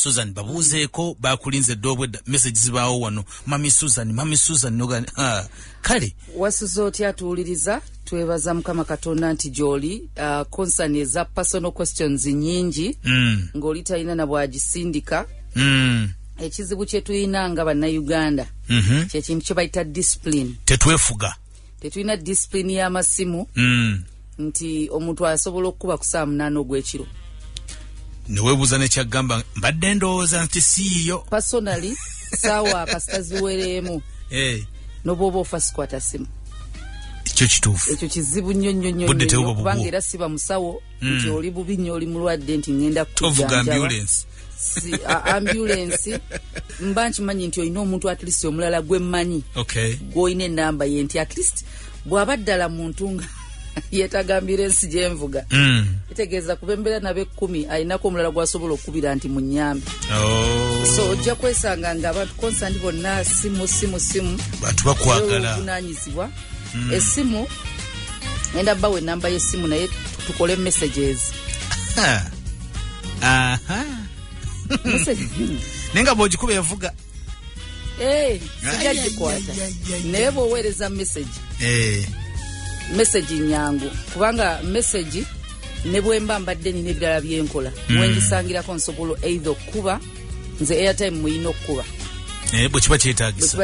susan babuuzeeko bakulinze dde obwedda message zibaawo wano mami susan mami susan noga ah, kale wasuza otya atuwuliriza twebaza mukama katonda nti gyoli uh, concern eza personal questions nyingi mm. ng'oli talina na bwagisindika mm. ekizibu kyetulina nga bannayuganda mm -hmm. kyekintu kyebayita discipline tetwefuga tetulina disipulini y'amasimu mm. nti omuntu asobola okukuba ku saa munaana ogw'ekiro newebuuza nekyagamba mbadde ndowooza nti siiyo personaly saawa kasita ziwereemu hey. Eh. nobwoba ofa sikwata simu ekyo kituufu ekyo kizibu nnyo nnyo nnyo kubanga era siba musawo mm. nti oli bubi nnyo oli mulwadde nti ngenda kukujanjaba ambulensi mba nkimanyi nti olina omuntu atlist omulala gwe mmanyi gwolina enamba ye nti atlist bwaba ddala muntu nga yetagambira ensi gyenvuga hmm. kitegeeza kuba embeera nabo ekkumi alinako omulala gwasobola okukubira nti munyambi oh. so ojja kwesanga nga abantu konsandi bonna simu simu simu bantu bakwagala obuvunanyizibwa hmm. esimu enda bawa enamba yesimu naye tukole messages aha naye nga bwogikuba evuga eh, sijja gikwata naye bwoweereza mesegi eh. mesegi nyangu kubanga mesegi ne bwemba mbadde nina ebirala byenkola hmm. wengisangirako nsobola eitha okukuba nze airtime muyina okukuba eh, bwekiba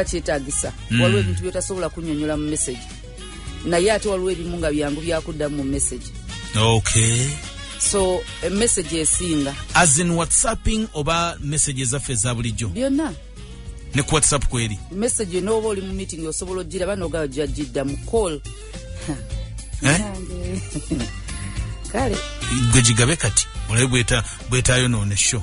kyetagisa hmm. waliwo ebintu byotasobola kunyonyola mu mesegi naye ate waliwo ebimu nga byangu byakuddamu mu message okay so eh, message esinga as in whatsapping oba message ezaffe eza bulijjo byonna ne ku whatsapp kweri message nooba oli mu meeting osobola ojjira banoga jajjidda mu call eh? kale gwe gigabe kati olabe bwetaayonoona esho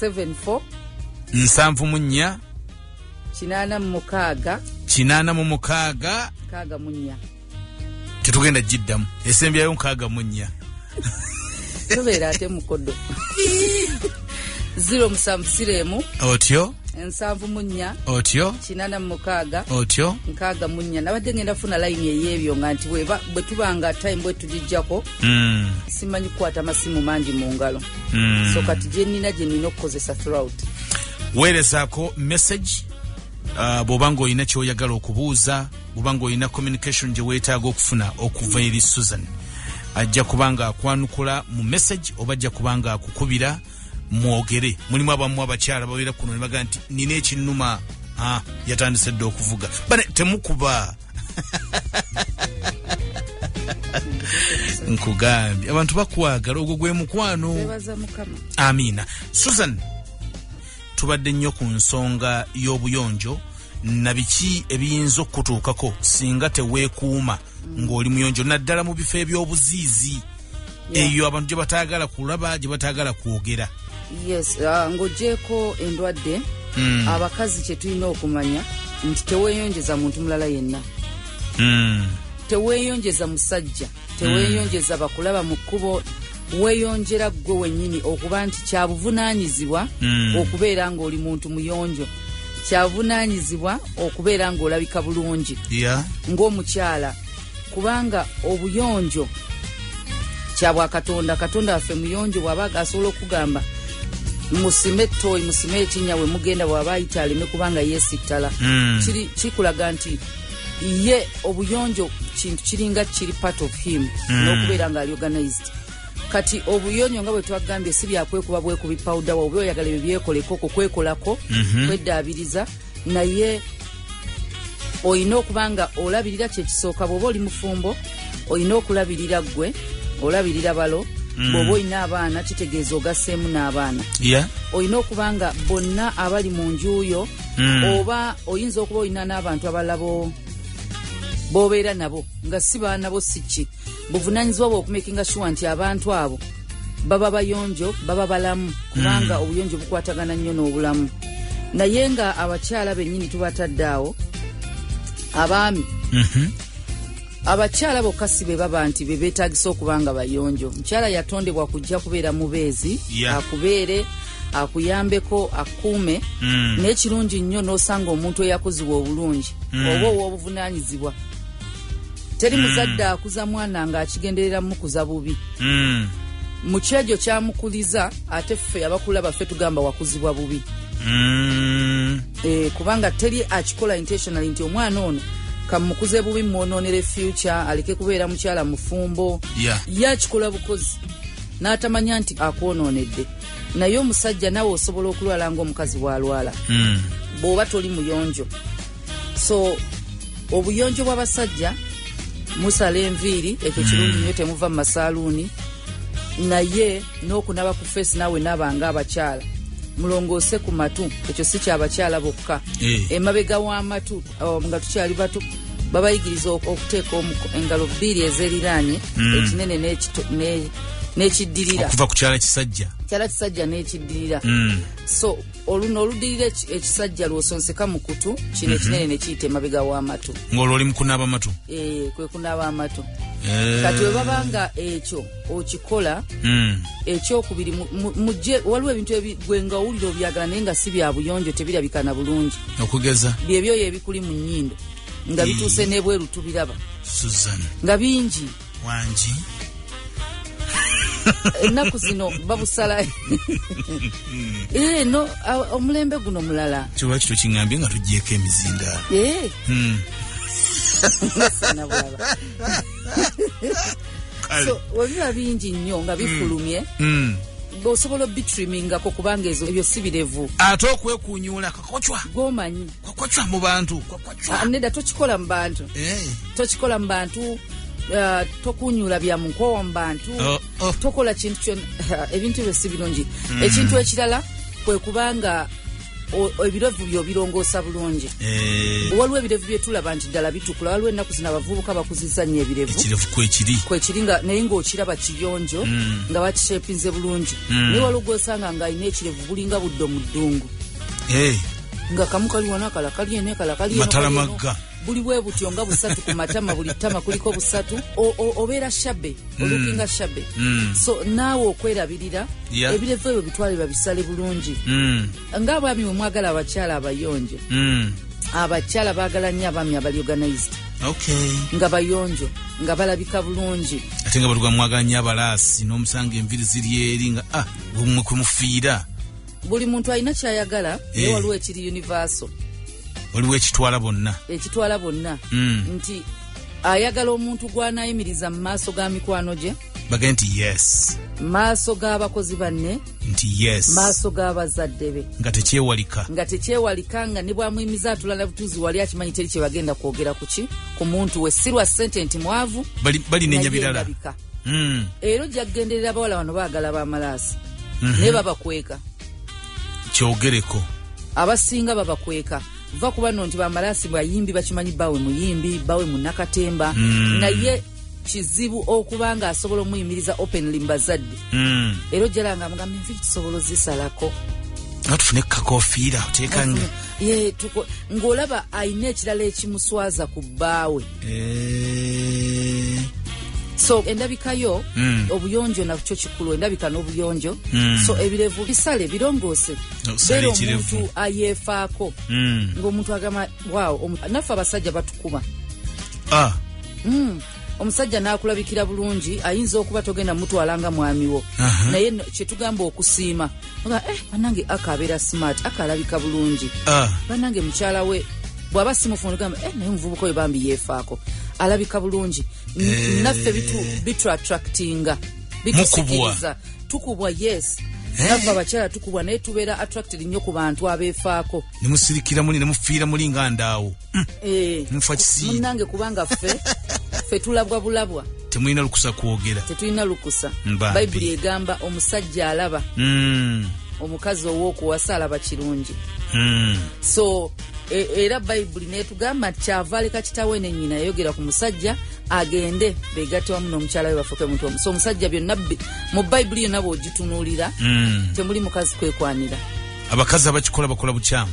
74 nsanvu mu nnya kinaana mu mukaaga kinaana mu mukaaga mukaaga mu nnya tetugenda giddamu esembyayo mukaaga mu nnya tobeera ate mukodo ziro musanvu siremu otyo nsanvu mu nnya otyo kinana mu mukaaga otyo nkaaga mu nnya nabadde ngenda funa layini ey'ebyo nga nti bwe tuba nga time bwe tugijjako mm. simanyi kukwata masimu mangi mu ngalo mm. so kati gyenina gyenina okukozesa throut weerezako message uh, bwoba nga olina kyoyagala okubuuza bwoba nga olina communication gye weetaaga okufuna okuva eri susan ajja kuba nga akwanukula mu message oba ajja kuba nga akukubira mwogere mulimu abamu abakyala babeera kuno ne baga nti nina ekinuma ah, yatandise dda okuvuga bane temukuba nkugambye abantu bakwagala ogwo gwe mukwano amiina susan tubadde nnyo ku nsonga y'obuyonjo na biki ebiyinza okukutuukako singa teweekuuma ng'oli muyonjo naddala mu bifo eby'obuziizi eyo abantu gye bataagala kulaba gye bataagala kwogera yes uh, ng'ogyeko endwadde mm. abakazi kye tulina okumanya nti teweeyonjeza muntu mulala yenna mm. teweeyonjeza musajja teweeyonjeza mm. bakulaba mu kkubo weeyonjera ggwe wennyini okuba nti kyabuvunaanyizibwa mm. okubeera ng'oli muntu muyonjo kyabuvunaanyizibwa okubeera ng'olabika bulungi yeah. ng'omukyala kubanga obuyonjo kyabwakatonda katonda waffe muyonjo bwaba agasobola okugamba musime etoyi musime ekinya wemugenda bwaba ayita aleme kubanga yesittala mm. kikulaga nti ye obuyonjo kintu kiringa kiri part of him mm. nokubeera nga ali organized kati obuyonyo nga bwetwagambye si byakwekuba bwekubi pawuda wa oba oyagala ebyo byekoleko okwo kwekolako mm -hmm. kweddaabiriza naye olina okuba nga olabirira kyekisooka bwoba oli mufumbo olina okulabirira ggwe olabirira balo mm. bwoba olina abaana kitegeeza ogaseemu n'abaana olina okuba nga bonna abali mu njuuyo mm. oba oyinza okuba olina n'abantu abalabo bobeera nabo nga si baana bo si ki buvunanyizibwa bwa okumekinga shuwa nti abantu abo baba bayonjo baba balamu kubanga mm. obuyonjo bukwatagana nnyo n'obulamu naye nga abakyala bennyini tubatadde awo abaami mm -hmm. abakyala bokka si be baba nti be beetagisa okuba nga bayonjo omukyala yatondebwa kujja kubeera mubeezi yeah. akubeere akuyambeko akuume mm. naye kirungi nnyo n'osanga omuntu eyakuzibwa obulungi mm. oba ow'obuvunanyizibwa teri mm. muzadde akuza mwana nga akigenderera mukuza bubi mm. mukyejo kyamukuliza ate ffe yabakula baffe tugamba wakuzibwa bubi mm. e, kubanga teri akikola intentionally nti omwana ono kamukuze bubi mwononere future aleke kubeera mukyala mufumbo yeah. ye akikola bukozi n'atamanya nti akwononedde naye omusajja nawe osobola okulwala ngaomukazi bwalwala mm. bw'oba toli muyonjo so obuyonjo bw'abasajja musala enviiri ekyo kirungi hmm. nyo temuva mu masaaluuni naye n'okunaba ku feesi naawe naaba nga abakyala mulongoose ku matu ekyo si kyabakyala bokka eh. emabega w'amatu oh, nga tukyali bato babayigiriza okuteeka engalo bbiri ezeriraanye hmm. ekinene n'ekiddirira okuva ku kyala kisajja kyala kisajja n'ekiddirira hmm. so oluno oludirira ekisajja lwosonseka mu kutu kino mhm. ekinene nekiyita emabega w'amatu ng'olwo oli mukunaaba amatu eh, kwe kunaaba amatu eh. kati webaba nga ekyo okikola hmm. ekyokubiri muje waliwo ebintu gwengawulira obyagala naye nga si byabuyonjo tebirabikana bulungi okugeza byebyoyo ebikuli mu nyindo nga bituuse nebweru tubiraba nga bingi wangi ennaku zino babusala eno eh, omulembe guno mulala kyoba kito kiŋambye nga tugyeko emizinda eh. hmm. webiba bingi nnyo nga hmm. bifulumye hmm. osobola obitrimmingako kubanga ebyo si birevu ate okwekunyuulako kochwa gomanyi kochwa mu bantu kochwa ah, neda tochikola mu bantu eh tochikola mu bantu uh, tokunyula bya munkowa mu bantu oh, oh. tokola kintu kyo uh, ebintu byo sibilungi mm. ekintu ekirala kwe kubanga ebirevu byo birongosa bulungi eh. waliwo ebirevu byetulaba nti ddala bitukula waliwo ennaku zina abavubuka bakuziza nnyo ebirevu kwekiri naye ngaokiraba kiyonjo mm. nga bakishepinze bulungi mm. naye waliwo gwosanga nga alina ekirevu bulinga buddo mu ddungu hey. nga kamu kali wana kala kali ene kala kali ene matala magga buli bwe butyo nga busatu ku matama buli tama kuliko busatu obeera shabe mm. olukinga shabe mm. so naawe okwerabirira yeah. ebirevu ebyo bitwale babisale bulungi mm. nga abaami we mwagala abakyala abayonjo mm. abakyala baagala nnyo abaami abali organized okay. nga bayonjo nga balabika bulungi ate nga batugamwagala nnyo abalaasi n'omusanga enviri ziri eri nga ah, gwe mwe kwe mufiira buli muntu alina kyayagala naye eh. waliwo ekiri universal waliwo ekitwala bonna ekitwala bonna hmm. nti ayagala omuntu gwanayimiriza mu maaso ga mikwano gye bage nti yes maaso g'abakozi banne nti yes maaso g'abazadde be nga tekyewalika nga tekyewalika nga ne bwamuyimiza atulala butuzi wali akimanyi teri kyebagenda kwogera kuki ku muntu we sirwa sente nti mwavu balinenya birala hmm. era ojja kugenderera abawala bano baagala bamalaasi mhm. naye babakweka kyogereko abasinga babakweka va kuba no nti bamalaasi bayimbi bakimanyi bawe muyimbi bawe munakatemba hmm. naye kizibu okuba nga asobola omuyimiriza openly mbazadde hmm. era ojjala nga mugamba enviri tusobola ozisalako natufune kukakofiira oteeka nga ng'olaba alina ekirala ekimuswaza ku bbaawe Eh. so endabika yo mm. obuyonjo nakyo kikulu endabika n'obuyonjo mm. so ebirevu bisale birongoose beera omuntu ayeefaako mm. ngaomuntu agamba wawo naffe abasajja batukuba ah. mm. omusajja n'akulabikira bulungi ayinza okuba togenda mutwala nga mwamiwo naye kyetugamba okusiima nga eh banange aka abeera smart aka alabika bulungi ah. banange mukyala we bwaba simufuna ogamba eh naye omuvubuka oyo bambi yeefaako alabika bulungi eh. naffe bituattractinga bitusikiriza tukubwa yes eh. nava abakyala tukubwa naye tubeera attracted nnyo ku bantu abeefaako nemusirikira muli nemufiira muli nga ndaawo mm. eh, nfa kisiimunange kubanga ffe ffe tulabwa bulabwa temulina lukusa kwogera tetulina lukusa bayibuli egamba omusajja alaba mm. omukazi ow'okuwasa alaba kirungi mm. so e, era bayibuli netugamba nti kyava aleka kitawe ne nyina yayogera ku musajja agende begatte wamu n'omukyala we bafuuke muntu omu so omusajja byonna mu bayibuli yonna bw'ogitunuulira mm. temuli mukazi kwekwanira abakazi abakikola bakola bukyamu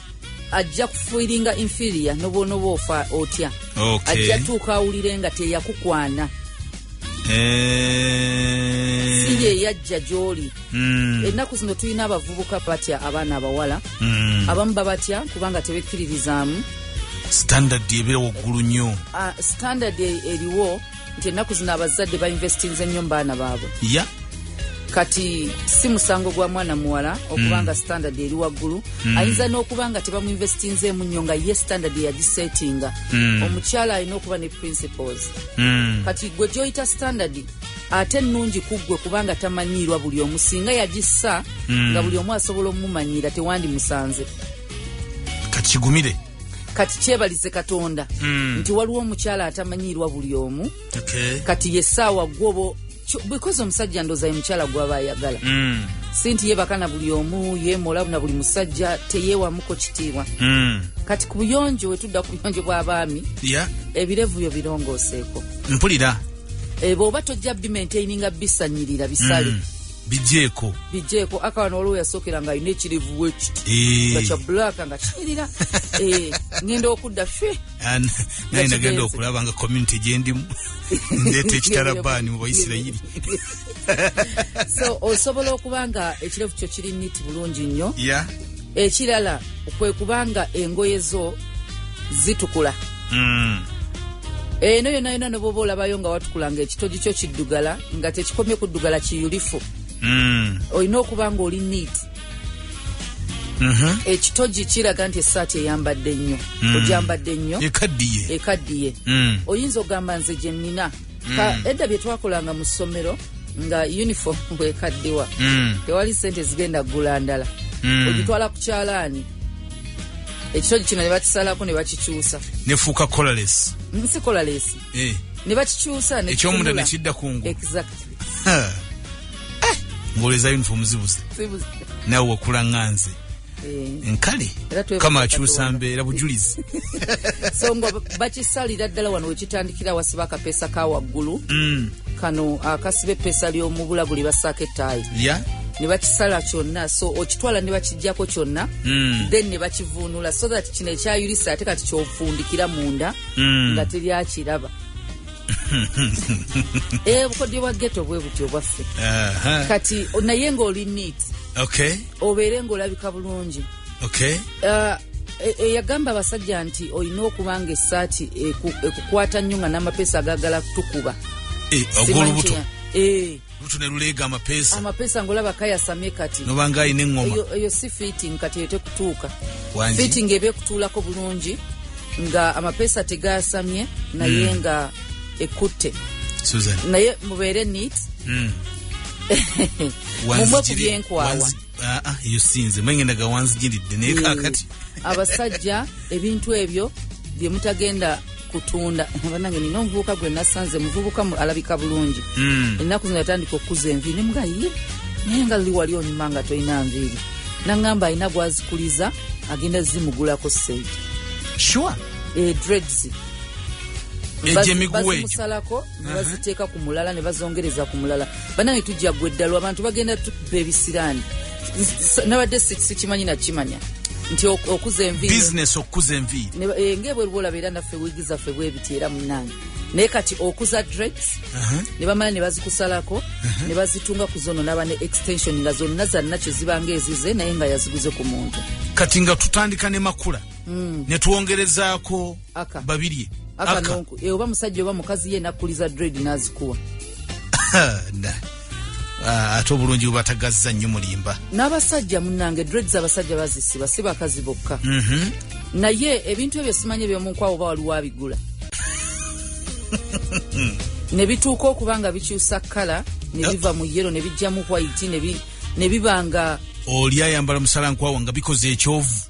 ajja kufiringa inferior nobwonoba ofa otya okay. ajja tuuka awulire nga teyakukwana eh. si yeyajja gyoli mm. ennaku zino tulina abavubuka batya abaana abawala mm. abamu babatya kubanga tebekkiririzaamu standard ebera waggulu nnyo uh, standard e, eriwo nti ennaku zino abazadde bainvestinze nnyo mu baana baabwe ya kati si musango gwa mwana muwala okuba mm. nga standard eri waggulu mm. ayinza n'okuba nga tebamuinvestinzeemu nnyo nga ye standard yagisetinga mm. omukyala alina okuba ne principles kati gwe gyoyita standard ate ennungi ku ggwe kubanga tamanyiirwa buli omu singa yagissa nga buli omu asobola omumanyira tewandimusanze kakigumire kati kyebalize katonda mm. nti waliwo omukyala atamanyiirwa buli omu okay. kati yesaawa gwobo because omusajja ndoza ye mukyala gwaba ayagala mm. sinti yebaka na buli omu yemola na buli musajja teyewamuko kitiibwa mm. kati ku buyonjo wetudda ku buyonjo bw'abaami yeah. ebirevu byo birongoseeko mpulira ebo eh, oba tojja bimaintaininga bisanyirira bisale mm. bijeeko bijeeko aka wano waliwo yasookera nga alina ekirivu wekiti eh. nga kya bulaaka nga kinyirira eh, ngenda okudda fe naye nagenda okulaba nga community gyendimu ndeeta ekitarabaani mu baisirayiri so osobola okuba nga ekirevu kyo kiri niti bulungi nnyo ekirala kwe kubanga engoye zo zitukula mm. eno yona yona neboba olabayo nga watukula nga ekitogi kyo kiddugala nga tekikomye kuddugala kiyulifu mm. olina okuba nga oli neat mm -hmm. ekitogi kiraga nti esaati eyambadde nnyo mm. ojambadde nnyo ekaddiye ekaddiye mm. oyinza ogamba nze gyenina mm. edda bye twakolanga mu ssomero nga uniform bwekaddiwa mm. tewali sente zigenda kugula ndala mm. ogitwala ku kyalaani ekitogi kino ne bakisalako ne bakikyusa nefuuka colales nsi colales eh. ne bakikyusa ekyomunda nekidda kungu exactly eh. ngoleza uniform zibuze nawe wakula nganze Eh. nkale kama akyusa mbeera bujulizi so nga bakisalira ddala wano wekitandikira wasiba akapeesa ka waggulu mm. kano akasiba epeesa lyomubulaguli basaako ettaayi ne bakisala kyonna so okitwala ne bakijjako kyonna mm. then ne bakivuunula so that kino ekyayulisa ate kati kyofundikira munda mm. nga teri akiraba eh, obukodyo bwa geto bwe butyo bwaffe kati naye ng'oli neat okay. obeere ng'olabika bulungi okay. uh, eyagamba e, abasajja nti olina okuba nga esaati ekukwata nnyo nga n'amapeesa agagala kutukuba e, ogwolubuto e. lutu ne luleega amapeesa amapeesa ngolaba kayasamye kati nobanga alina eŋŋoma eyo si fitting kati eyo tekutuuka fitting eba ekutuulako bulungi nga amapeesa tegayasamye naye mm. nga ekutte susan naye mubeere neat mm. mumwe ku byenkwawa ah, ah, eyo sinze mwengenda gawanzijiridde naye mm. kakati abasajja ebintu ebyo byemutagenda kutunda abanange nina omuvubuka gwe nasanze muvubuka alabika bulungi hmm. ennaku zino yatandika okukuza enviiri nemuga ye naye nga luli wali onyuma nga tolina nviiri naŋŋamba alina gwazikuliza agenda zimugulako sente sure eh, dreads egyo emiguwa egyo nebaziteeka ku mulala ne bazongereza ku mulala banange tujja gwe eddalu abantu bagenda tukuba ebisiraani nabadde sikimanyi nakimanya nti okuza enviibusiness okukuza enviiri eh, ngaebweruba olaba era naffe wiigi zaffe bwebiti era munange naye kati okuza dreads uh-huh. ne bamala ne bazikusalako uh-huh. ne bazitunga ku zono naba ne extension nga zonna zanna kye zibanga ezize naye nga yaziguze ku muntu kati nga tutandika ne makula mm. ne twongerezaako aka babirye aka nonku e oba musajja oba mukazi ye nakuliza dread nazikuwa nda ah, ate obulungi bubatagazza nnyo mulimba n'abasajja munange dreads abasajja bazisiba si bakazi bokka mhm. naye ebintu ebyo simanyi ebyomunkwawo oba waliwo abigula ne bituuka okuba nga bikyusa kkala ne ah. biva mu yero ne bijjamu white ne biba nga oli ayambala musalankwawo nga bikoze ekyovu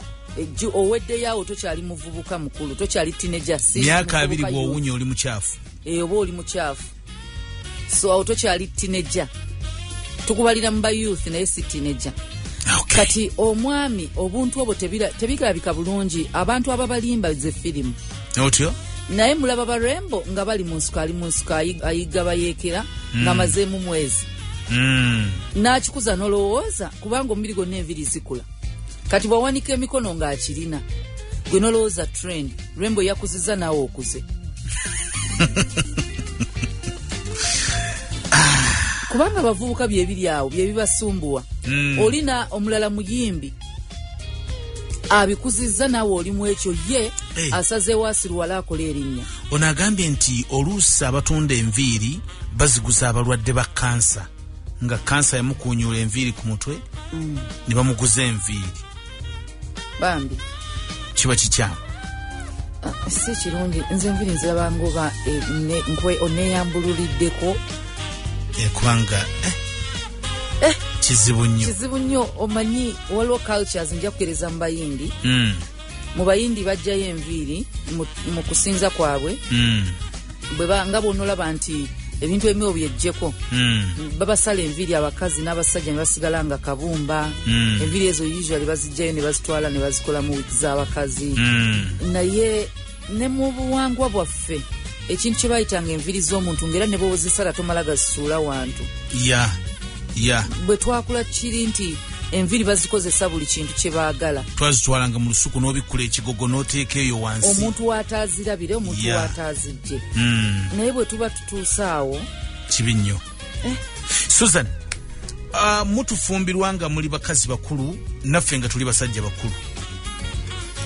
ejju oweddeyo awo tokyali muvubuka mukulu tokyali tineja myaka abiri bwowunya oli mukyafu eyo oba oli mukyafu so awo tokyali tineja tukubalira mu ba youth naye si tineja okay. kati omwami obuntu obwo tebirabika bulungi abantu ababalimba ze firimu otyo naye mulaba barembo nga bali mu nsuka ali mu nsuka ayigga bayeekera mm. nga mazeemu mwezi mm. n'akikuza n'olowooza kubanga omubiri gwonna enviri zikula kati bwawanika emikono ng'akirina gwe nolowooza trend rembo yakuziza naawe okuze kubanga abavubuka byebiri awo byebibasumbuwa mm. olina omulala muyimbi abikuziza naawe olimu ekyo ye hey. Eh. asazeewo asiruwala akola erinnya ono agambye nti oluusi abatunda enviiri baziguza abalwadde ba kansa nga kansa yamukunyuula enviiri ku mutwe mm. ne bamuguza enviiri bambi kiba kikyamu ah, si kirungi nze enviiri nzirabanga oba eh, oneyambululiddeko eh, kubanga eh, eh, kizibu nnyo kizibu nnyo omanyi waliwo cultures nja kukereza mu bayindi mm. mu bayindi bajjayo enviiri mu kusinza kwabwe hmm. nga bwonolaba nti ebintu ebimu obyejjeko hmm. babasala enviiri abakazi n'abasajja nebasigala nga kabumba hmm. enviiri ezo usually bazijjayo nebazitwala nebazikolamu wiiki z'abakazi naye ne mu buwangwa bwaffe ekintu kye bayitanga enviri z'omuntu ngaera ne bwewozisala tomala gazisuula wantu ya ya bwe twakula kiri nti enviri bazikozesa buli kintu kye baagala twazitwalanga mu lusuku n'obikkula ekigogo n'oteeka eyo wansi omuntu wataazirabire omuntu wataazijje hmm. naye bwe tuba tutuuse awo kibi nnyo eh. susan uh, mutufumbirwa nga muli bakazi bakulu naffe nga tuli basajja bakulu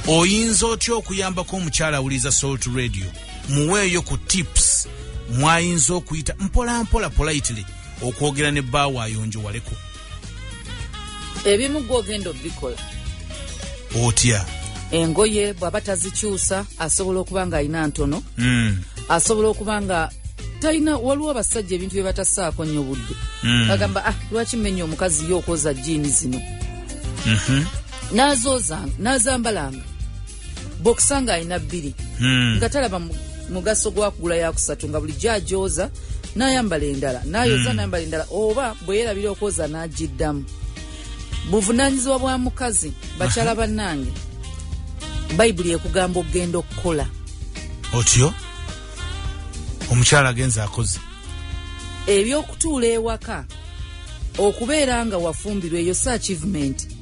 oyinza otya okuyambako omukyala awuliriza salt radio muweeyo ku tips mwayinza okuyita mpolampola politely okwogera ne bbaawo ayonjowaleko ebimu gwe ogenda obikola otya engoye bw'aba tazikyusa asobola okuba ng'alina ntono hmm. asobola okuba nga talina waliwo abasajja ebintu bye batasaako nnyo budde hmm. agamba ah lwaki mmenya omukazi ye okwoza jiini zino mhm. n'azoozanga n'azambalanga bokisa nga alina bbiri hmm. nga talaba mugaso gwakugula yakusatu nga bulijjo ajooza nayambala endala nayoza hmm. nayambala endala oba bweyerabira okwoza nagiddamu buvunanyizibwa bwa mukazi bakyala bannange bayibuli ekugamba okugenda okukola otyo omukyala agenza akoze ebyokutuula ewaka okubeera nga wafumbirwa eyo si achievement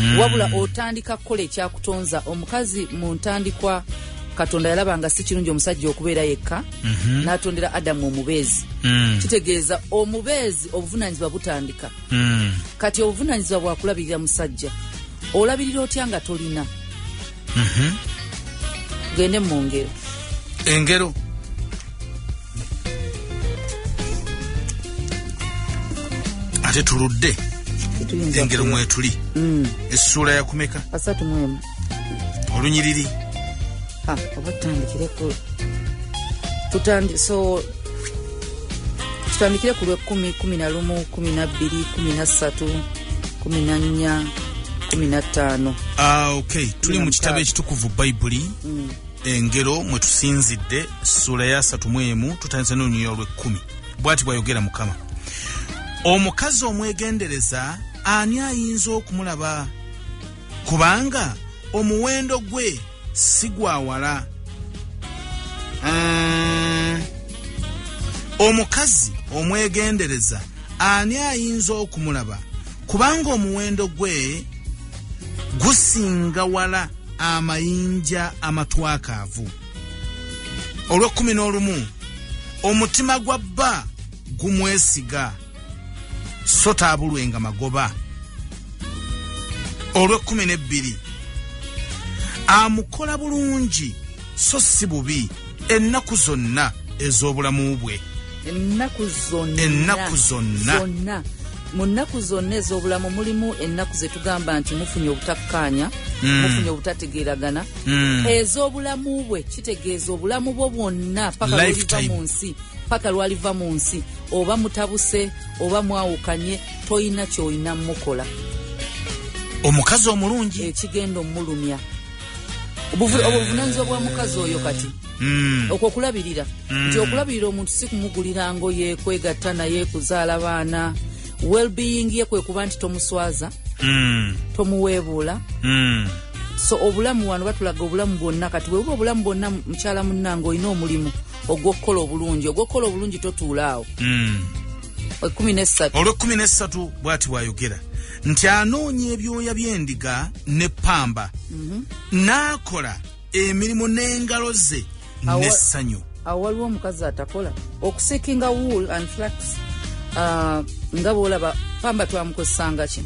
mm. wabula otandika kukola ekyakutonza omukazi mu ntandikwa katonda yalaba nga si kirungi omusajja okubeera yekka mm -hmm. n'atondera adamu omubeezi mm. kitegeeza omubeezi obuvunaanyizibwa butandika mm. kati obuvunaanyizibwa bwakulabirira musajja olabirira otya nga tolina mhm. tugende mu ngero engero ate tuludde engero mwetuli mm. essuula yakumeka asatu mwemu olunyiriri oba tutandikireko tutandi so kitandikire ku lwekumi kumi na lumu kumi na bbiri kumi na ssatu kumi na nnya kumi na ttaano ah, ok tuli mu kitabo ekitukuvu bayibuli mm. engero mwe tusinzidde ssuula ya satu mu emu tutandise n'olunyuya olwekkumi bwati bwayogera mukama omukazi omwegendereza ani ayinza okumulaba kubanga omuwendo gwe si gwa wala mm. omukazi omwegendereza ani ayinza okumulaba kubanga omuwendo gwe gusinga wala amayinja amatwakaavu olw'ekkumi n'olumu omutima gwa bba gumwesiga so taabulwenga magoba olw'ekkumi n'ebbiri amukola bulungi so si bubi ennaku zonna ez'obulamu bwe ennaku zonna mu nnaku zonna ez'obulamu mulimu ennaku ze tugamba nti mufunye obutakkaanya hmm. mufunye obutategeeragana hmm. ez'obulamu bwe kitegeeza obulamu bwo bwonna paka lwaliva mu nsi paka lwaliva mu nsi oba mutabuse oba mwawukanye tolina kyolina mukola omukazi omulungi ekigenda eh, omulumya obuvunanyizibwa bwa mukazi oyo kati hmm. okwo okulabirira hmm. nti okulabirira omuntu si kumugulira ngoye kwegatta naye kuzaala baana wellbeing ye kwe kuba nti tomuswaza hmm. tomuweebuula so obulamu wano batulaga obulamu bwonna kati webuba obulamu bwonna mukyala munnange olina omulimu ogwokukola obulungi ogwokukola obulungi totuulaawo hmm. olwekumi nesatu bwati bwayogera nti anoonya ebyoya byendiga ne pamba mhm. naakola emirimu n'engalo ze nessanyu awo waliwo omukazi atakola okusikinga wool and flax uh, nga bwolaba pamba twamukozesanga ki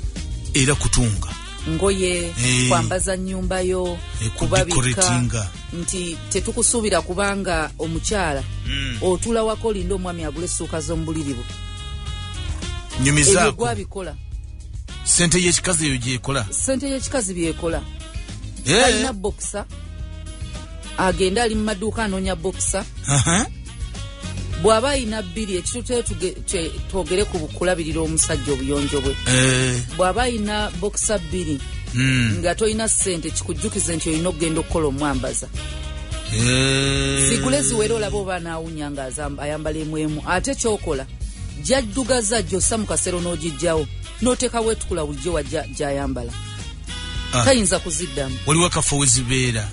era kutunga ngoye eh. kwambaza nyumba yo eh, kubabika nti tetukusuubira kubanga omukyala mm. otula wako olinda omwami agula essuuka z'omubuliri bwe nyumizaako abikola sente yekikazi eyo gyekola sente yekikazi byekola eh. alina bokisa agenda ali mu maduuka anoonya bokisa bw'aba alina bbiri ekituteyo twogere ku kulabirira omusajja obuyonjo bwe eh. bw'aba alina bokisa bbiri hmm. nga tolina ssente kikujjukize nti olina okugenda okukola omwambaza eh. sigule ziwera olaba oba anaawunya nga ayambala emu emu ate kyokola gyaddugaza gyossa mu kasero n'ogijjawo n'oteeka weetukula bulijjo wa gyayambala ah. tayinza kuziddamu waliwo akafo we zibeera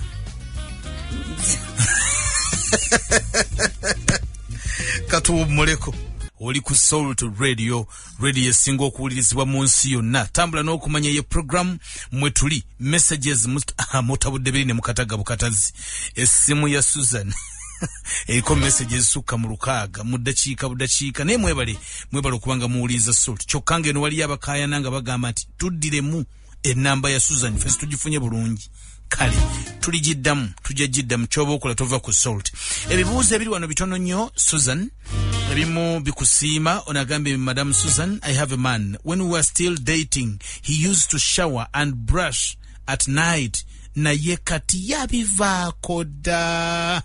katuwummuleko oli ku salt radio radio esinga okuwulirizibwa mu nsi yonna tambula n'okumanya ye programu mwe tuli messages ah, mutabudde biri ne mukataga bukatazi essimu ya susan eriko message ezisukka mu lukaaga mu ddakiika buddakiika naye mwebale mwebale okubanga muwuliriza salt kyokka ng'eno waliyo abakaayana nga bagamba nti tuddiremu enamba ya susan fesi tugifunye bulungi kale tuligiddamu tujja giddamu kyoba okola tova ku salt ebibuuzo ebiri wano bitono nnyo susan ebimu bikusiima onagambye madam susan i have a man when we were still dating he used to shower and brush at night naye kati yabivaako dda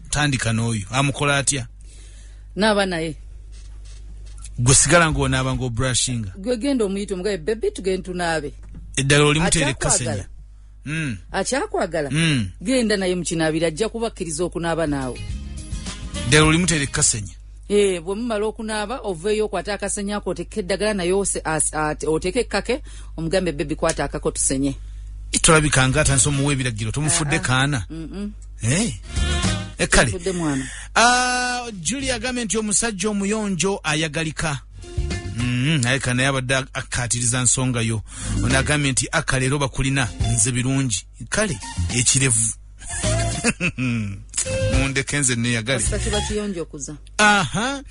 tandika n'oyo amukola atya naaba naye gwe sigala ngaonaaba ngaobrushinga gwe genda omuyita omugabe bebi tugende tunaabe eddala oli muteere kasenya hmm. akyakwagala hmm. genda naye mukinaabira ajja kubakkiriza okunaaba naawe eddala oli muteere kasenya Eh, bwe mumala okunaaba oveeyo okwata akasenya ako oteeke eddagala naye oteeke ekkake omugambe bebi kwata akako tusenye tolabika nga atandisa omuwa ebiragiro tomufudde ah, ah. kaana eh? eh, kale ah, juli agambye nti omusajja omuyonjo ayagalika mm, naye ka naye abadde akkaatiriza nsonga yo ono agambye nti aka leero bakulina nze birungi kale ekirevu mundeke nze neyagale aha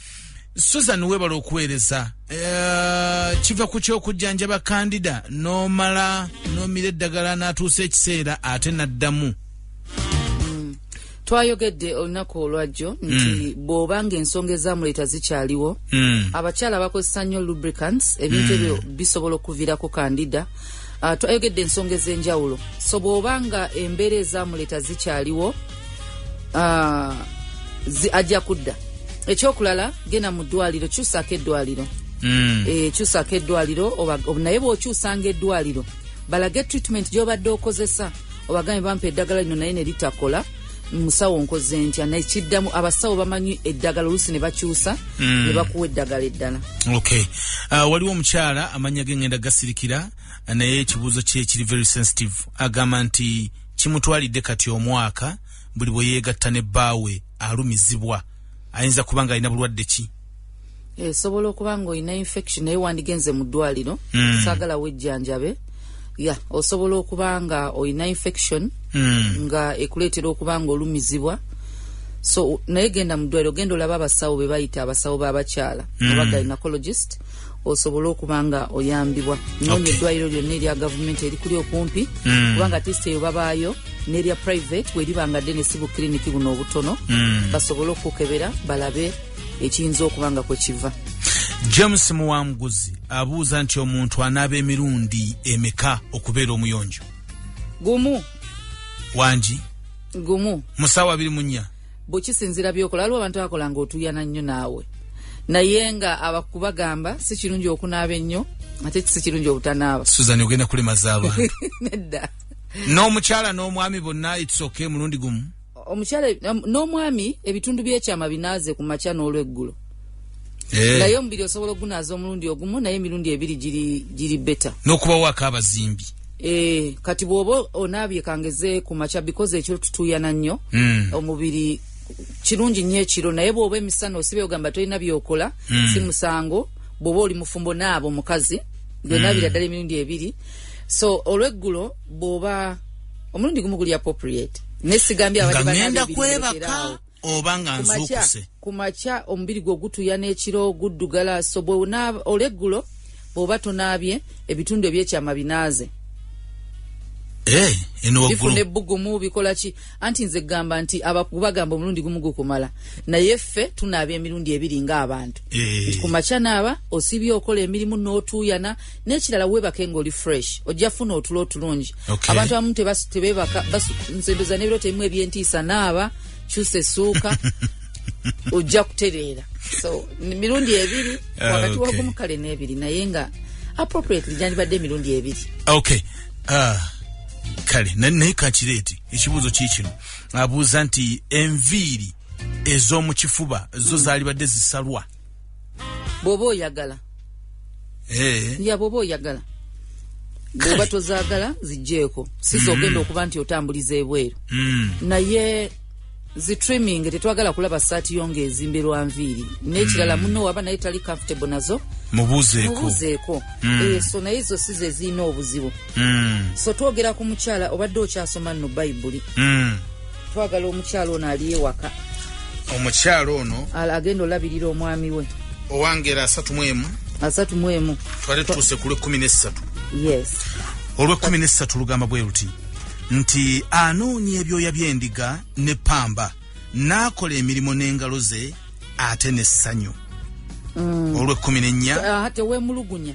susan webala okuweereza eh, kiva ku kyokujjanjaba kandida nomala nomira eddagala natuusa ekiseera ate naddamu twayogedde olunaku olwajjo nti mm. bwoba nga ensonga ezamuleeta zikyaliwo mm. abakyala bakozesa nnyo lubricants ebintu mm. ebyo bisobola okuviirako kandida uh, twayogedde ensonga ez'enjawulo so bw'oba nga embeera ezamuleeta zikyaliwo uh, zi, ajja kudda ekyokulala genda mu ddwaliro kyusaako eddwaliro mm. e, kyusaako eddwaliro naye bw'okyusanga eddwaliro balage treatment gy'obadde okozesa obagambe bampa eddagala lino naye ne litakola musawo nkoze ntya naye kiddamu abasawo bamanyi eddagala oluusi ne bakyusa mm. ne bakuwa eddagala eddala okay. uh, waliwo omukyala amannya ge ngenda gasirikira naye ekibuuzo kye kiri very sensitive agamba nti kimutwalidde kati omwaka buli bwe yeegatta ne bbaawe alumizibwa ayinza kuba nga alina bulwadde ki esobola eh, okuba nga olina infection naye wandigenze mu ddwaliro mm. saagala wejjanjabe ya osobola okuba nga olina infection mm. nga ekuleetera okuba nga olumizibwa so naye genda mu ddwaliro genda olaba abasawo be bayita abasawo b'abakyala mm. oba gynecologist osobole okuba nga oyambibwa noonya okay. eddwaliro lyonna erya gavumenti erikuli okumpi mm. kubanga tisi eyo babaayo n'erya private weriba nga ddene si bukiriniki buno obutono mm. basobole okukebera balabe ekiyinza okuba nga kwe kiva james muwanguzi abuuza nti omuntu anaaba emirundi emeka okubeera omuyonjo gumu wangi gumu mu saawa abiri mu nnya bwekisinzira byokola waliwo abantu akola nga otuyana nnyo naawe naye nga abakubagamba si kirungi okunaaba ennyo ate si kirungi obutanaaba suzan ogenda kulemaza abantu nedda n'omukyala n'omwami bonna itsoke mulundi gumu omukyala n'omwami ebitundu by'ekyama binaaze ku makya n'olweggulo eh. naye omubiri osobola ogunaaza omulundi ogumu naye emirundi ebiri giri beta n'okubawaako abazimbi eh, kati bw'oba onaabye kangeze ku makya bikoze ekyo tutuuyana nnyo hmm. omubiri kirungi nnyo ekiro naye bw'oba emisana osibe ogamba tolina byokola hmm. si musango bw'oba oli mufumbo naabo omukazi byonna hmm. biraddala emirundi ebiri so olweggulo bw'oba omulundi gumu guli appropriate nesigambye abadde banagenda kwebaka oba nga nzuukuse ku makya omubiri gwo gutuya n'ekiro guddugala so bwe olweggulo bw'oba tonaabye ebitundu ebyekyama binaaze eh, bifuna ebbugumu bikola ki anti nze gamba nti abakubagamba omulundi gumu gukumala naye ffe tunaaba emirundi ebiri ng'abantu eh. nti ku makya naaba osibye okola emirimu n'otuuyana nekirala webake nga oli fresh ojja funa otulo otulungi okay. abantu abamu tebebaka nzendoza nebiro temu ebyentiisa naaba kyusa esuuka ojja kutereera so mirundi ebiri ah, wakati okay. wagumu kale nebiri naye nga appropriately gyandibadde emirundi ebiri okay. uh, kale naye kakireeti ekibuuzo kiikino abuuza nti enviiri ez'omu kifuba zo zaalibadde zisalwa bwoba oyagala eh. ya bwoba oyagala bwoba tozagala zijjeeko si zogenda mm. okuba nti otambuliza ebweru mm. naye zitriming tetwagala kulaba saati yo nga ezimberwa nviiri n'ekirala mm. muno waba naye tali comfortable nazo mubuzeeko eh, so naye ezo si zezirina obuzibu so twogera ku mukyala obadde okyasoma nno bayibuli twagala omukyalo ono ali ewaka omukyalo ono agenda olabirira omwami we owangera asatu mwemu asatu mwemu twali tuuse ku lwekkumi nessatu yes olwekkumi nessatu lugamba bwe luti nti anoonya ebyoya by'endiga ne pamba n'akola emirimu n'engalo ze ate n'essanyu mm. olwekkumi n'ennya ah, tewemulugunya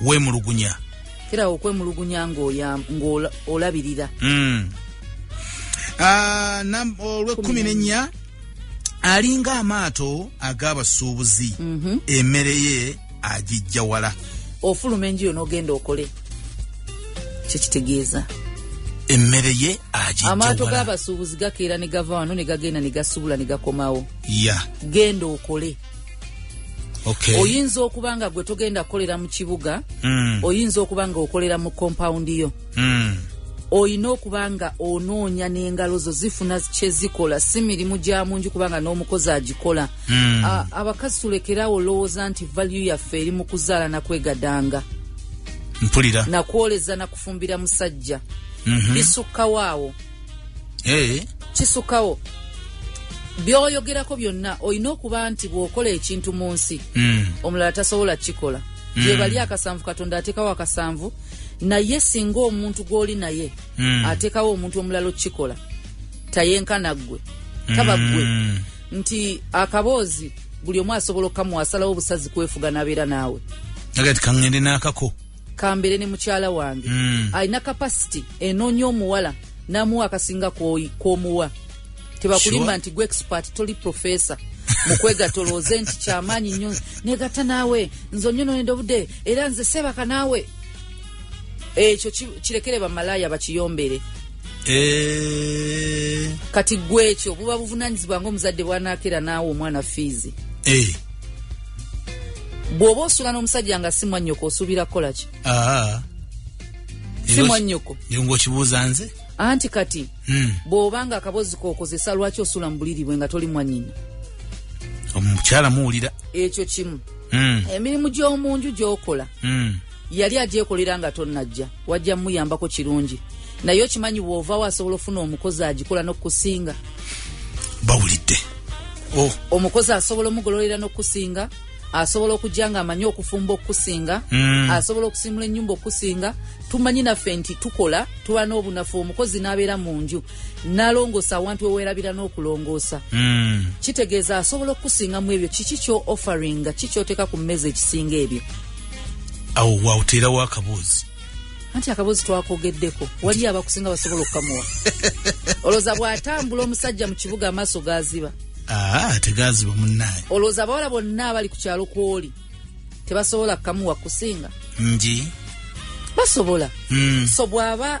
wemulugunya kirawo okwemulugunya ngaolabirira hmm. ah, olwekumi nenya alinga amaato ag'abasuubuzi mhm. emere ye agijja wala ofuluma enjuyo n'ogenda okole kyekitegeeza emmere ye amaato g'abasuubuzi gakeera ne gava wano ne gagenda ne gasubula ne gakomawo ya genda okole okay. oyinza okuba nga gwe togenda kukolera mu kibuga mm. oyinza okuba nga okolera mu kompawundi yo mm. olina okuba nga onoonya n'engalo zo zifuna kyezikola si mirimu gya munju kubanga n'omukozi agikola mm. abakazi tulekeraawo olowooza nti valyu yaffe eri mu kuzaala nakwegadanga mpulira nakwoleza nakufumbira musajja mm -hmm. bisukkawaawo eh. kisukawo byoyogerako byonna olina okuba nti bwokola ekintu mu nsi mm. omulala tasobola kikola mm. gyebali akasanvu katonda atekawo akasanvu naye singa omuntu gwoli naye mm. atekawo omuntu omulala okukikola tayenkana ggwe taba ggwe mm. nti akaboozi buli omu asobola okukamuwasalawo obusazi kwefuga nabeera naawe agati kaŋende n'akako kambere ne mukyala wange mm. alina capacity enonya omuwala namuwa akasinga kwomuwa tebakulimba sure. nti gwe expert toli professor mukwegatolooze nti kyamaanyi nnyo negata naawe nze onyononede obude era nze sebaka naawe ekyo kirekere bamalaaya bakiyombere eh. kati gwe ekyo buba buvunanyizibwa nga omuzadde bwanakera naawe omwana fiizi eh. bwoba osula nomusajja nga si mwanyoko osuubira kukola ki ah. si mwanyoko ngaokibuuza nze anti kati hmm. bwoba nga akabozi kokozesa lwaki osula mubuliri bwe nga toli mwanyina omukyala muwulira ekyo kimu hmm. emirimu gyomunju gyokola hmm. yali agyekolera nga tonnajja wajja muyambako kirungi naye okimanyi bwovawo asobola ofuna omukozi agikola nokukusinga bawulidde oh. omukozi asobola omugololera nokukusinga asobola okujja nga amanyi okufumba okukusinga mm. asobola okusimula enyumba okukusinga tumanyi naffe nti tukola tuba n'obunafu omukozi n'abeera mu nju nalongoosa awantu weweerabira n'okulongoosa mm. kitegeeza asobola okukusinga mu ebyo kiki kyo offeringa kikyoteeka ku mmeeza ekisinga ebyo awo waoteerawo akaboozi anti akaboozi twakogeddeko waliyo abakusinga basobola okukamuwa olowooza bw'atambula omusajja mu kibuga amaaso gaaziba ah, tegaziba munnaye olowooza abawala bonna abali ku kyalo kwoli tebasobola kukamuwa kusinga nji basobola mm. so bw'aba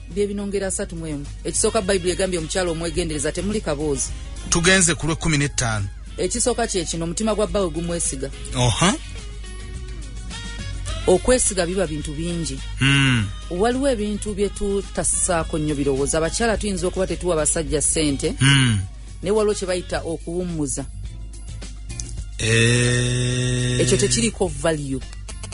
byebino ngeri asatu mu emu ekisooka bayibuli egambye omukyalo omwegendereza temuli kaboozi tugenze ku lwekumi nettaano ekisooka kyekino omutima gwa bbawe gumwesiga oha okwesiga biba bintu bingi hmm. waliwo ebintu byetutasaako nnyo birowoozo abakyala tuyinza okuba tetuwa basajja ssente hmm. naye waliwo kyebayita okuwummuza eh. ekyo tekiriko value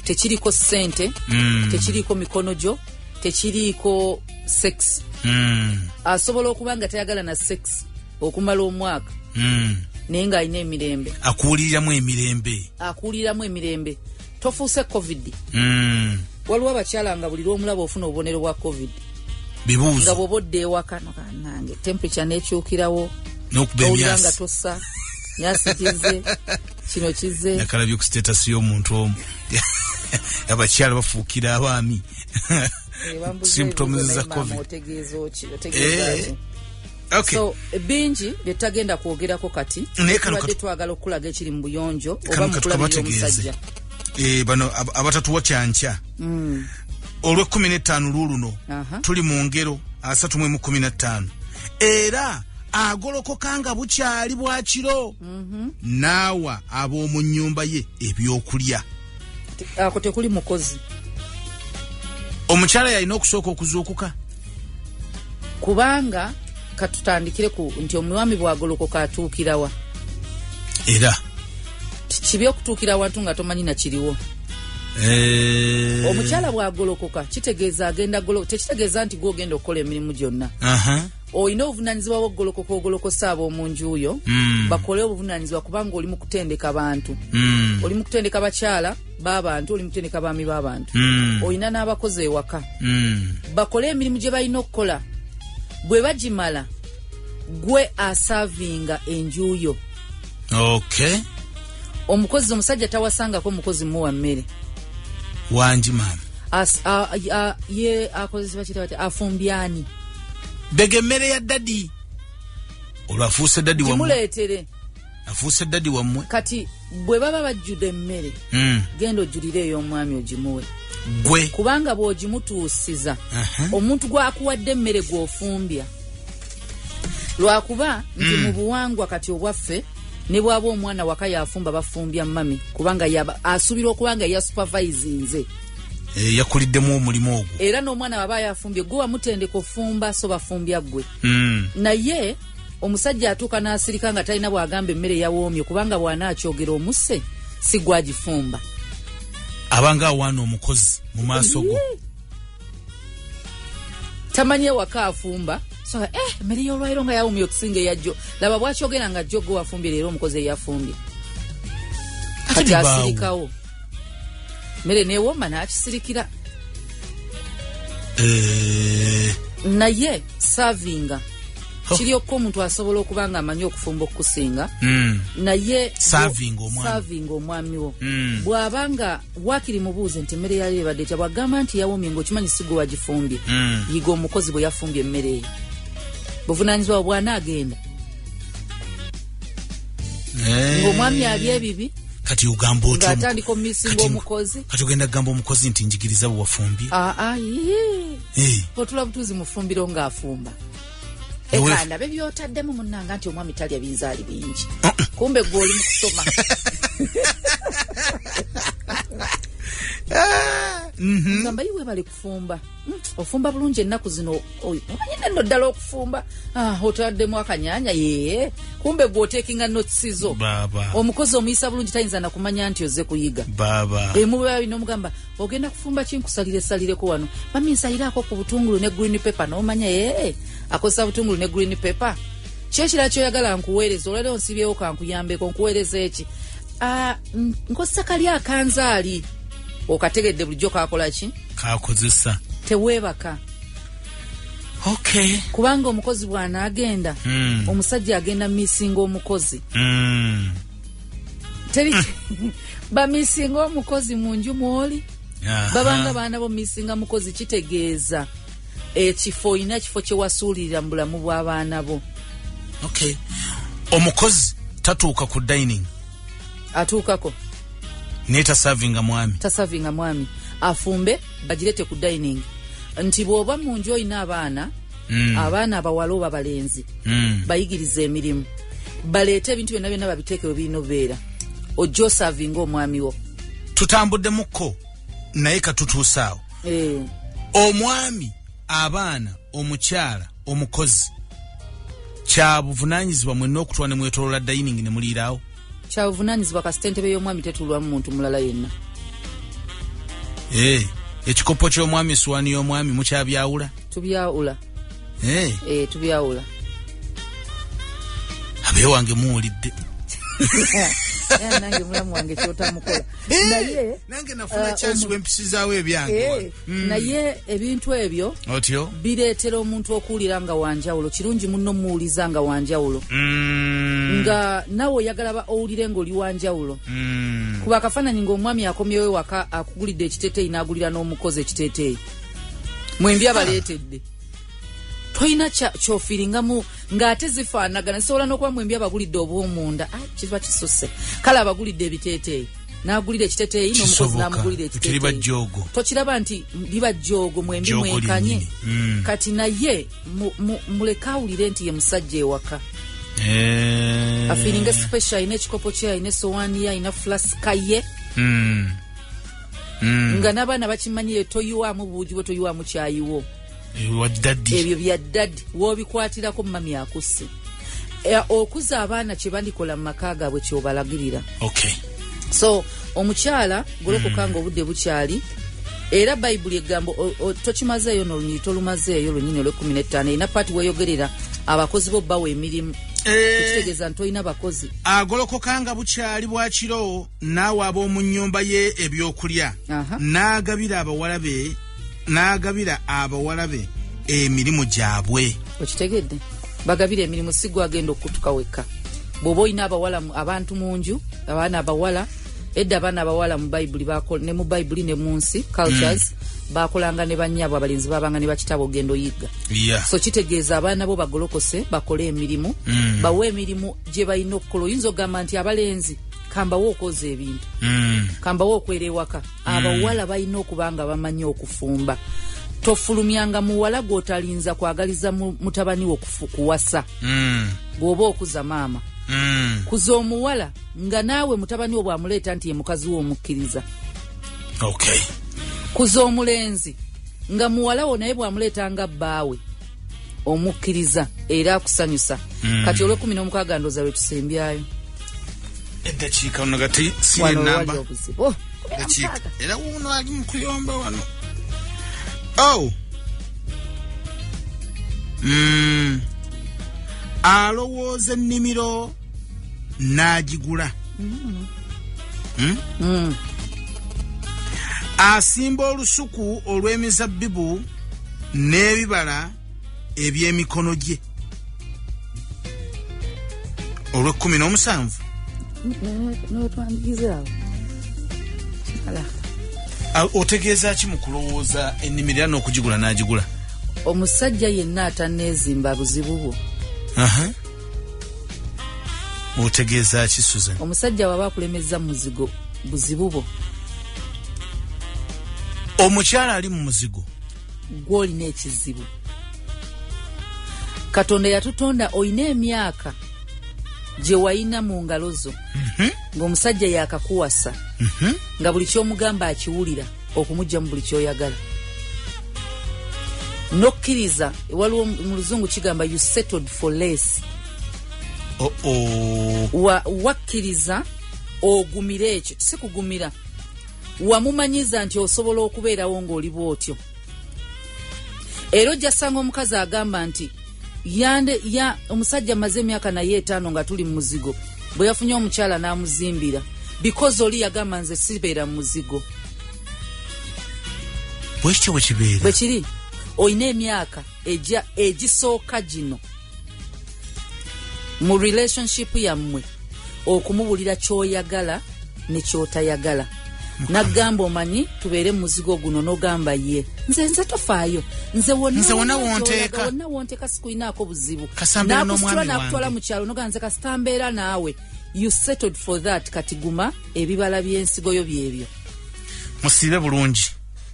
tekiriko ssente hmm. tekiriko mikono gyo tekiriiko sex mm. asobola okuba nga tayagala na sex okumala omwaka mm. naye ng'alina emirembe akuwuliriramu emirembe akuwuliriramu emirembe tofuuse covid mm. waliwo abakyala nga buli lwomulaba ofuna obubonero bwa covid bibuuzo nga bwoba odda ewakano kanange temperature nekyukirawo nokuba emyasi nga tossa nyasi kize kino kize nakalabye ku status y'omuntu omu abakyala bafuukira abaami symptoms za covid eh, Okay. So bingi byetagenda kwogerako kati tubadde twagala okukulaga ekiri mu buyonjo oba mukulabira omusajja eh, bano abatatuwa kyankya mm. olwekumi netaano lwoluno tuli mu ngero asatu mwemu kumi netaano era agolokoka nga bukyali bwakiro mhm. naawa ab'omu nnyumba ye ebyokulya ako tekuli mukozi omukyala yalina okusooka okuzuukuka kubanga katutandikire ku nti omwami bwagolokoka atuukirawa era kibi okutuukira awantu nga tomanyi nakiriwo Eh. omukyala bwagolokoka kitegeeza agenda golo tekitegeeza nti gwogenda okukola emirimu gyonna olina obuvunanyizibwa bwokugolokoka ogolokosa abomunjuyo mm. bakole obuvunanyizibwa kubanga oli mukutendeka bantu mm. oli mukutendeka bakyala babantu oli mukutendeka baami babantu mm. olina n'abakozi ewaka mm. bakole emirimu gye balina okukola bwe bagimala gwe asavinga enjuyo okay. omukozi omusajja tawasangako omukozi muwa mmere wangi maama akozesebakitawati afumbyani bega emmere ya dadi olwo afuuse dadi wamuleetere afuuse dadi wammwe kati bwe baba bajjude emmere hmm. genda ojjulire ey'omwami ogimuwe gwe kubanga bw'ogimutuusiza omuntu gwakuwadde emmere gw'ofumbya lwakuba nti hmm. mu buwangwa kati obwaffe ne bwaba omwana waka yafumba bafumbya mami kubanga asuubirwa okuba nga yasupervise nze Eh, yakuliddemu omulimu ogwo era n'omwana waba yafumbye gwe wamutendeka ofumba so bafumbya ggwe hmm. naye omusajja atuuka n'asirika nga talina bwagamba emmere yawoomye kubanga bwanaakyogera omusse si gwagifumba abanga awaana omukozi mu maaso go tamanyi ewaka afumba so eh mmere y'olwaliro nga yawoomye okusinga eyajjo laba bwakyogera nga jjo gwe wafumbye leero omukozi eyafumbye kati asirikawo mere newoma nakisirikira eh. naye savinga oh. kiri okko omuntu asobola okuba nga amanyi okufumba okukusinga hmm. naye savinga omwami wo hmm. bwaba nga wakiri mubuuze nti emmere yali ebadde etya bwagamba nti yawomye ngaokimanyi sigwe wagifumbye hmm. yiga omukozi bwe yafumbye emmere eyo buvunanyizibwa bwanaagenda eh. ng'omwami ali ebibi kati ogamba otyoatandika omumisinga omukozi kati ogenda kugamba omukozi nti njigiriza bwewafumbye ah, ah, eh. otula butuuzi mufumbiro ng'afumba ekanda be byotaddemu munnanga nti omwami talya binzaali bingi uh-uh. kumbe gwe oli mu kusoma ah, mm-hmm. fumba mm, ofumba bulungi ennaku zino omanyi nenno ddala okufumba ah, otaddemu akanyanya yee kumbe gwotekinga notsizo omukozi omuyisa bulungi tayinza nakumanya nti oze kuyiga emubabinomugamba ogenda kufumba kinkusalire salireko wano mami nsalirako ku butungulu ne green paper nomanya ee akozesa butungulu ne green paper kyekira kyoyagala nkuweereza olwaleo nsibyewo kankuyambeko nkuweereza eki ah, nkozesa kali akanzaali okategedde bulijjo kakolaki kakozesa teweebaka okay. kubanga omukozi bwanaagenda mm. omusajja agenda misinga omukozi mm. teri bamisinga omukozi mu nju mwoli babanga baana bo misinga mukozi kitegeeza ekifo olina ekifo kyewasuulirira mu bulamu bw'abaana bo okay. omukozi tatuuka ku dining atuukako naye tasavinga mwami tasavinga mwami afumbe bagirete ku dining nti bwoba mu nju olina abaana mm. abaana abawala oba balenzi mm. bayigiriza emirimu baleete ebintu byonna byonna babiteeke webirina obeera ojja osavinga omwami wo tutambuddemukko naye katutuusaawo eh. omwami abaana omukyala omukozi kyabuvunanyizibwa mwena okutula nemwetolola dining nemuliiraawo kyabuvunanyizibwa kasita entebe y'omwami tetulwamu muntu mulala yenna eh, ekikopo ky'omwami esuwani y'omwami mukyabyawula tubyawula eh. Eh, tubyawula abewange muwulidde nange mulamu wange kyotamukola naye nange nafuna kyansi bwempisizawo ebyange Mm. naye ebintu ebyo otyo bireetera omuntu okuwulira nga wanjawulo kirungi muno muwuliza nga wanjawulo mm. nga nawe oyagala ba owulire ngaoli wanjawulo mm. kuba akafaananyi ngaomwami akomyewo waka akugulidde ekiteteeyi n'agulira n'omukozi ekiteteeyi mwembi abaleetedde tolina kyofiringamu ng'ate zifaanagana zisobola n'okuba mu embi abagulidde obwomunda ah, kiba kisuse kale abagulidde ebiteeteeyi nagulira ekiteteeyi n'omukozi namugulira ekiteteeyi tokiraba nti biba jjoogo mwembi mwekanye hmm. kati naye muleke awulire nti ye musajja ewaka eh. afiringa special alina ekikopo kye alina esowaani ye alina fulaska ye hmm. Hmm. nga n'abaana bakimanyi ye toyiwamu buugi bwe toyiwamu kyayiwo ebyo bya dadi wobikwatirako mami akusse eh, okuza abaana kyebandikola mu maka gaabwe kyobalagirira okay. so omukyala golokoka mm. nga obudde bukyali era bayibuli egamba tokimazeeyo nolunyiri tolumazeeyo lunyini olwekumi nettaano erina paati weyogerera abakozi bo bawa emirimu eh. ekitegeeza nti olina bakozi agolokokanga bukyali bwakiro n'awa ab'omu nnyumba ye ebyokulya n'agabira abawala be n'agabira abawala be emirimu gyabwe okitegedde bagabira emirimu si gwagenda okutuka wekka bw'oba olina abawala abantu mu nju abaana abawala edda abaana abawala mu bayibuli ne mu bayibuli ne mu nsi cultures mm. bakolanga ne banyabwe abalenzi babanga ne bakitabo ogenda oyigga yeah. so kitegeeza abaana bo bagolokose bakole emirimu mm. bawe emirimu gye balina okukola oyinza okugamba nti abalenzi kambawo okwoza ebintu mm. kambawo okwera ewaka mm. abawala balina okuba nga bamanyi okufumba tofulumyanga muwala gwotalinza kwagaliza mutabani wo kuwasa mm. bwoba okuza maama mm. kuza omuwala nga naawe mutabani wo bwamuleeta nti ye mukazi wo omukkiriza okay. kuza omulenzi nga muwala wo naye bwamuleeta nga bbaawe omukkiriza era akusanyusa mm. kati olwekumi nomukaaga ndoza lwetusembyayo eddakiika ono gati sinamba oh, era wuno ali mukuyomba wano oh. mm. alowooza ennimiro n'agigula hmm? Hmm. asimba olusuku olw'emizabbibu n'ebibala eby'emikono gye olw'ekkumi n'omusanvu otegeeza ki mu kulowooza ennimiro era n'okugigula n'agigula omusajja yenna atanneezimba buzibu bwo otegeeza ki susan omusajja waba akulemezza muzigo buzibu bo omukyala ali mu muzigo gwolina ekizibu katonda yatutonda olina emyaka gye wayina mu ngalo zo mhm. ng'omusajja yakakuwasa mhm. nga buli ky'omugamba akiwulira okumujja mu buli kyoyagala nokkiriza waliwo mu luzungu kigamba you settled for less oh -oh. Wa, wakkiriza ogumire ekyo si kugumira wamumanyiza nti osobola okubeerawo ng'oli bwotyo era ojja sanga omukazi agamba nti yande ya omusajja maze emyaka naye etaano nga tuli mumuzigo bwe yafunye omukyala n'amuzimbira because oli yagamba nze sibeera mumuzigo bwekityo bwekibeera bwe kiri olina emyaka egya egisooka gino mu relationship yammwe okumubulira kyoyagala nekyotayagala nagamba omanyi tubeere mumuzigo guno nogamba ye nze nze tofaayo nze wonawonteeka sikulinaako buzibu nakusitula nakutwala mukyalo nogamba nze kasita mbeera naawe you settled for that kati guma ebibala byensigoyo byebyo musiibe bulungi